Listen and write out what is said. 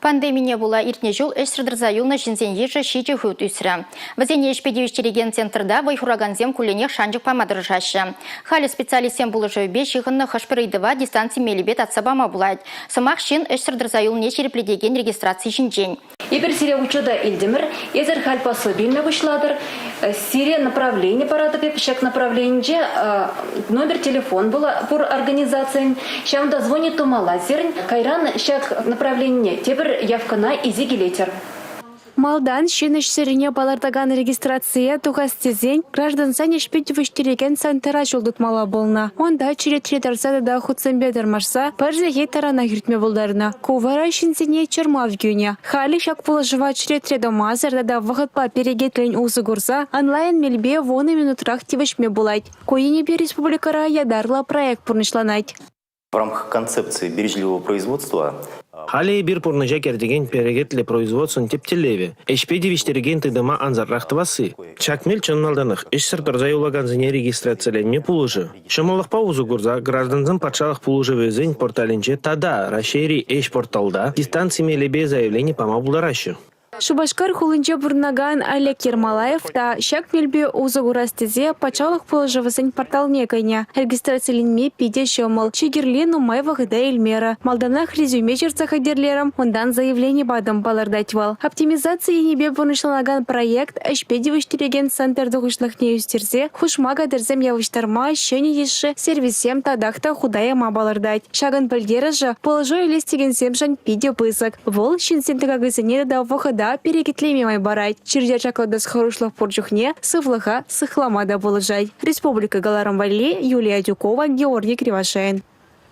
Пандемине пула иртнӗ ҫул ӗҫсӗр тӑрса юлнӑ ҫынсен йышӗ ҫичӗ хут ӳсрӗ. Вӗсене ӗҫпе тивӗҫтерекен центрта вӑй хуракансем кулленех шанчӑк пама тӑрӑшаҫҫӗ. Халӗ специалистсен пулӑшӑвӗпе ҫыхӑннӑ хӑш-пӗр ыйтӑва дистанци мелӗпе татса пама пулать. Сӑмах ҫын ӗҫсӗр тӑрса юлни ҫирӗплетекен регистраци ҫинчен. Эпир сире учета илтӗмӗр, эсӗр халь послаби пуҫлатӑр, Сирия направлени паратӑп эп ҫак направленинче номер телефон пур организацийӗн ҫавӑнта звони тумалла сирӗн кайран ҫак направленине тепӗр явкӑна исе килетӗр. Малтан ҫын ӗҫсӗррине палӑртакан регистрацие тухас тесен граждансен ӗҫпе тивӗҫтерекен центра ҫул тытмалла пулнӑ. Унта черетре тӑрса тата хутсемпе тӑрмашса пӗр сехет таранах иртме пултарнӑ. Ку вара ҫынсене чӑрмав кӳнӗ. Халӗ ҫак пулӑшӑва черетре тӑмасӑр тата вӑхӑтпа перекетлӗн усӑ курса онлайн мелпе вунӑ минутрах тивӗҫме пулать. Ку енӗпе республикӑра ятарлӑ проект пурнӑҫланать. В рамках концепции бережливого производства Халӗ эпир пурнӑҫа кӗртекен перекетлӗ производствӑн тӗп тӗллевӗ, ӗҫпе тивӗҫтерекен тытӑма ансатрах тӑвасси. Ҫак мел чӑн малтанах ӗҫсӗр тӑрса юлакансене регистрациленме пулӑшӗ. Ҫӑмӑллӑхпа усӑ курса граждансен патшалӑх пулӑшӑвӗсен порталӗнче тата Раҫҫейри ӗҫ порталта дистанци мелӗпе заявлени пама пултараҫҫӗ. Шупашкар хулинче пурӑнакан Олег Ермолаев та ҫак мелпе усӑ курас тесе патшалӑх пулӑшӑвӗсен порталне кӗнӗ. Регистрациленме питӗ ҫӑмӑл. Чи кирли нумай вӑхӑта илмерӗ. Малтанах резюме ҫырса хатӗрлерӗм, унтан заявлени патӑм, палӑртать вӑл. Оптимизаци енӗпе пурнӑҫланакан проект ӗҫпе тивӗҫтерекен центр тухӑҫлӑхне ӳстерсе хушма катерсем явӑҫтарма ҫӗнӗ йышши сервиссем татах та хута яма палӑртать. Ҫакӑн пӗлтерӗшӗ пулӑшу илес текенсемшӗн питӗ пысӑк. Вӑл ҫынсен тӑкакӗсене тата вӑхӑта перекетлеме май парать. Чир-чӗр ҫаклатас хӑрушлӑх пур чухне сывлӑха сыхлама та пулӑшать. Республика каларӑм валли Юлия Тюкова, Георгий Кривошеин.